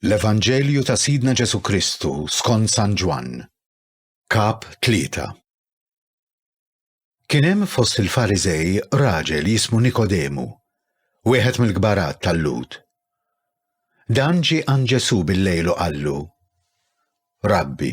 L-Evanġelju ta' Sidna Ġesu Kristu skont San Ġwann, kap tlieta. Kien hemm fost il-Fariżej raġel jismu Nikodemu, wieħed mill-kbarat tal-Lud. Dan ġie għand Ġesu bil-lejl u qallu: Rabbi,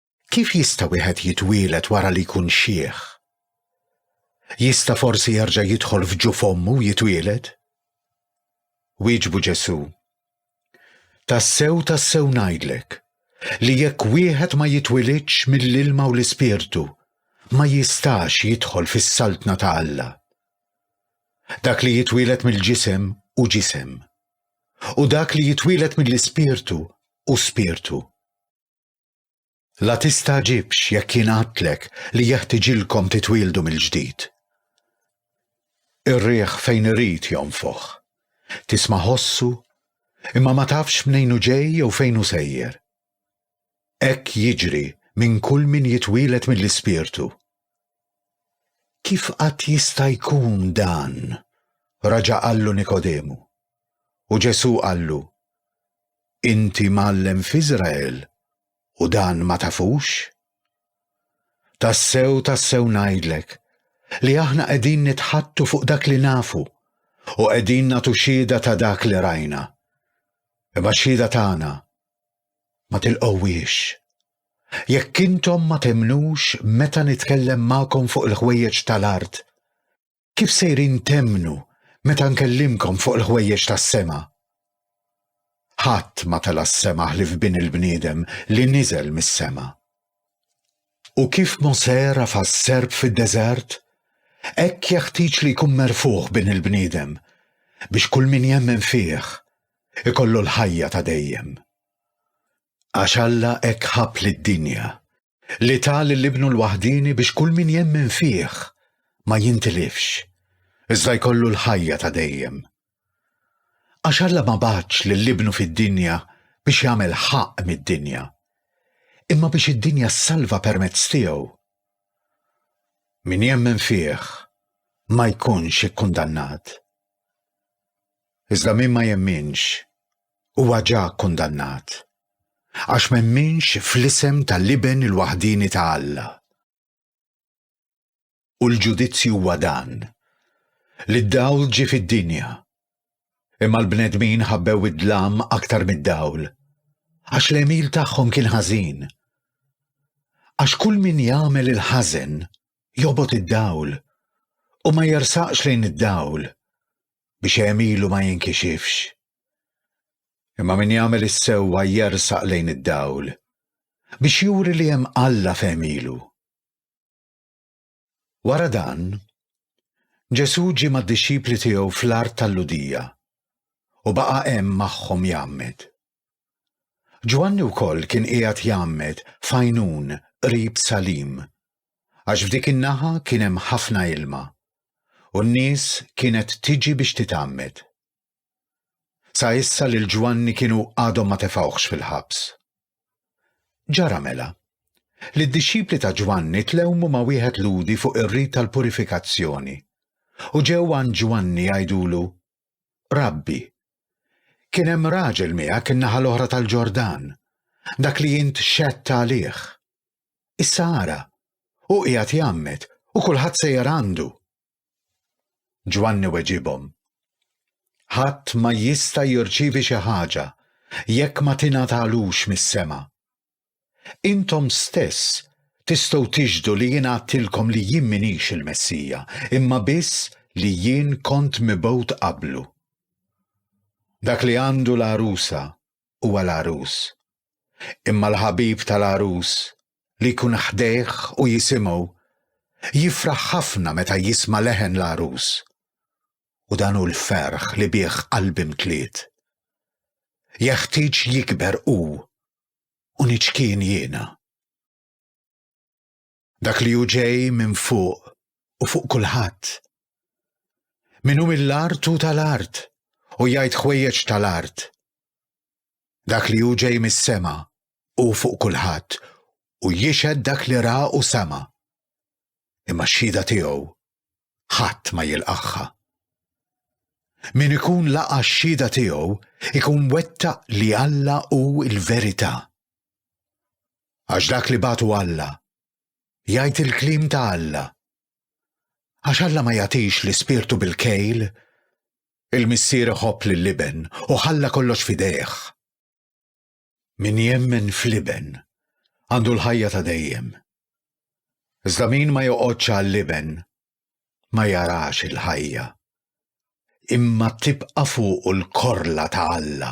Kif jista' wieħed jitwieled wara li jkun xiħ? Jista' forsi jerġa' jidħol f'ġu f'ommu u jitwieled? Wieġbu Ġesù, Tassew tassew ngħidlek li jekk wieħed ma jitwilidx mill-ilma u l-Ispirtu, ma jistax jidħol fis-saltna ta' Alla. Dak li jitwielet mill-ġisem u ġisem, u dak li jitwielet mill-ispirtu u spirtu. La tistagħġibx jekk jingħatlek li jeħtiġilkom titwieldu mill-ġdid. Ir-riħ fejn irid jonfoħ. Tisma' ħossu, imma ma tafx mnejn hu ġej jew fejn hu sejjer. Hekk jiġri minn kull min jitwielet mill-Ispirtu. Kif qatt jista' jkun dan? Raġa' qallu Nikodemu. U Ġesù qallu, Inti mgħallem f'Iżrael u dan ma tafux? Tassew, tassew ngħidlek, li aħna qegħdin nitħattu fuq dak li nafu, u qegħdin nagħtu xhieda ta' dak li rajna. Imma x-xhieda tagħna ma tilqgħuhiex. Jekk intom ma temmnux meta nitkellem magħkom fuq il-ħwejjeġ tal-art, Kif sejrin temmnu meta nkellimkom fuq il-ħwejjeġ tas-sema? Ħadd ma tela' s-sema ħlief Bin il-bniedem li niżel mis-sema. U kif Mosè rafa' s-serp fid-deżert, hekk jeħtieġ li jkun merfugħ Bin il-bniedem, biex kull min jemmen fih ikollu l-ħajja ta' dejjem. Għax Alla hekk ħabb lid-dinja, li ta lil Ibnu l-waħdieni biex kull min jemmen fih ma jintilifx, iżda jkollu l-ħajja ta' dejjem. Għax Alla ma bagħatx lil Ibnu fid-dinja biex jagħmel ħaqq mid-dinja, imma biex id-dinja ssalva permezz tiegħu. Min jemmen fih ma jkunx ikkundannat. Iżda min ma jemminx, huwa ġa kkundannat, għax m'emminx fl-isem tal-Iben il-waħdieni ta' Alla. U l-ġudizzju huwa dan, li d-dawl ġie fid-dinja, imma l-bnedmin ħabbew id-dlam aktar mid-dawl, għax l-għemil tagħhom kien ħażin. Għax kull min jagħmel il-ħażen jobgħod id-dawl, u ma jersaqx lejn id-dawl, biex għemilu ma jinkixifx. Imma min jagħmel is-sewwa jersaq lejn id-dawl biex juri li hemm Alla f'għemilu. Wara dan, Ġesù ġie mad-dixxipli tiegħu fl-art tal-Ludija u baqa' hemm magħhom jgħammed. Ġwanni wkoll kien qiegħed jgħammed f'Għajnun qrib Salim, għax f'dik in-naħa kien hemm ħafna ilma, u n-nies kienet tiġi biex titgħammed. Sa issa lil Ġwanni kienu għadhom ma tefgħuhx fil-ħabs. Ġara mela li d-dixxipli ta' Ġwanni tlewmu ma' wieħed Lhudi fuq ir-rit tal-purifikazzjoni, u ġew għand Ġwanni jgħidulu, Rabbi, kien hemm raġel miegħek in-naħa l-oħra tal-Ġordan, dak li int xedt għalih. Issa ara, u qiegħed jgħammed u kulħadd sejjer għandu. Ġwanni weġibhom. Ħadd ma jista' jirċievi xi ħaġa jekk ma tingħatalux mis-sema. Intom stess tistgħu tixhdu li jien għadtilkom li jien m'iniex il-Messija, imma biss li jien kont mibgħut qablu. Dak li għandu l-għarusa huwa l-għarus. Imma l-ħabib tal-għarus, li jkun ħdejh u jisimgħu, jifraħ ħafna meta jisma' leħen l-għarus. u dan hu l-ferħ li bih qalbi mtliet. Jeħtieġ jikber hu u niċkien jiena. Dak li hu ġej minn fuq u fuq kulħadd. Min hu mill-art u tal-art u jgħid ħwejjeġ tal-art. Dak li hu ġej mis-sema u fuq kulħadd u jixed dak li ra u sema. Imma x-xhieda tiegħu ħadd ma jilqagħha. Min ikun laqa' x-xhieda tiegħu ikun wettaq li Alla hu l-verità. Għax dak li batu Alla jgħid il-kliem ta' Alla. Għax Alla ma jagħtix l-ispirtu bil-kejl, il-missier iħobb lill-iben u ħalla kollox fidejh. Min jemmen fl-Iben għandu l-ħajja ta' dejjem. Iżda min ma joqgħodx għall-Iben ma jarax il-ħajja. Imma tibqa' fuqu l-korla ta' Alla.